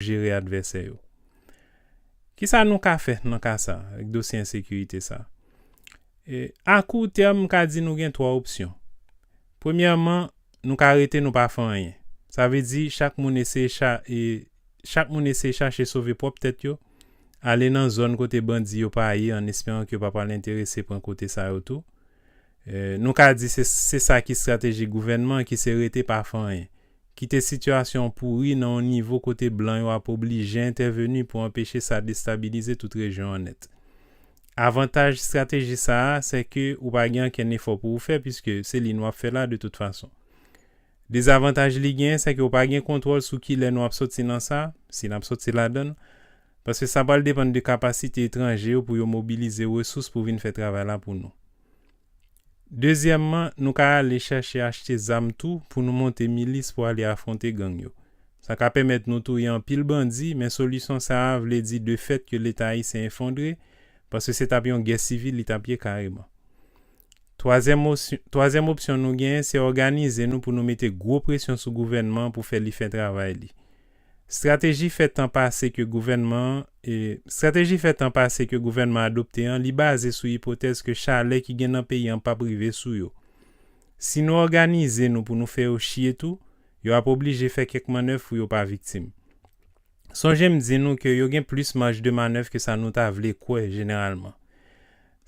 jere advèsè yo. Kisa nou ka fè nan ka sa, ak dosye ensekirite sa? A kou tèm, m ka di nou gen 3 opsyon. Premyèman, nou ka rete nou pa fè anyen. Sa vle di chak moun eseye chak moun eseye chache sove pwòp tèt yo, ale nan zòn kote bandi yo pa ye an esperan ke yo pa pral enterese pran kote sa yo tou. Nou ka di se sa ki strateji gouvènman an ki se rete pa fè anyen. Kite sitiyasyon an pouri nan yon nivo kote blan yo ap oblije entèveni pou anpeche sa destabilize tout rejyon an nèt. Avantaj estrateji sa a, sè ke ou pa gen ankenn efò pou ou fè piske se li nou ap fè la de tout fason. Dezavantaj li genyen, sè ke ou pa gen kontwòl sou kilè nou ap soti nan sa, si n ap soti ladan l, paske sa pral depann de kapasite etranje yo pou yo mobilize resous pou vin fè travay la pou nou. Dezyèmman, nou ka ale chèche achte zam tou pou nou monte milis pou ale afwonte gang yo. Sa ka pèmèt nou touye anpil bandi, men solisyon sa a vle di de fèt ke Leta ayisyen efondre, paske se t ap yon gè sivil li t ap ye kareman. Twazyèm osyon, twazyèm opsyon nou genyen se òganize nou pou nou mete gwo presyon sou gouvènman an pou fè li fè travay li. Strateji fè tan pase ke gouvènman Strateji fè tan pase ke gouvènman adopte an li baze sou ipotèz ke chalè ki gen nan peyi an pap rive sou yo. Si nou òganize nou pou nou fè yo chye tou, yo ap oblije fè kèk mannèv pou yo pa viktim. Sonje m di nou ke yo gen plis maj de manèv ke sa nou ta vle kwè jeneralman.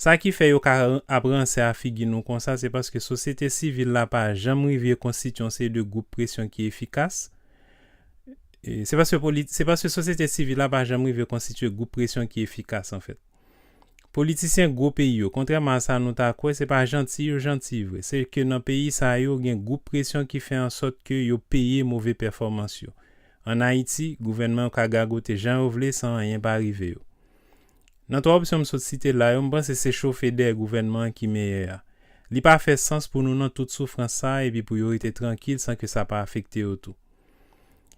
Sa ki fè yo ka ap ransè a figi nou konsa se paske sosyete sivil la pa janm rive konstitye yon seri de gwoup presyon ki efikas, se paske se paske sosyete sivil la pa janm rive konstitye gwoup presyon ki efikas anfèt. Politisyen gwo peyi yo, kontrèman a sa nou ta kwè, se pa janti yo janti vre, se ke nan peyi sa yo gen gwoup presyon ki fè ansòt ke yo peye move pèfòmans yo. An Ayiti, gouvènman yo ka gagote jan yo vle san anyen pa rive yo. Nan 3 opsyon m sot site la yo, m panse se chofe dèyè gouvènman an ki meyè a. Li pa fè sans pou nou nan tout soufrans sa a epi pou yo rete trankil san ke sa pa afekte yo tou.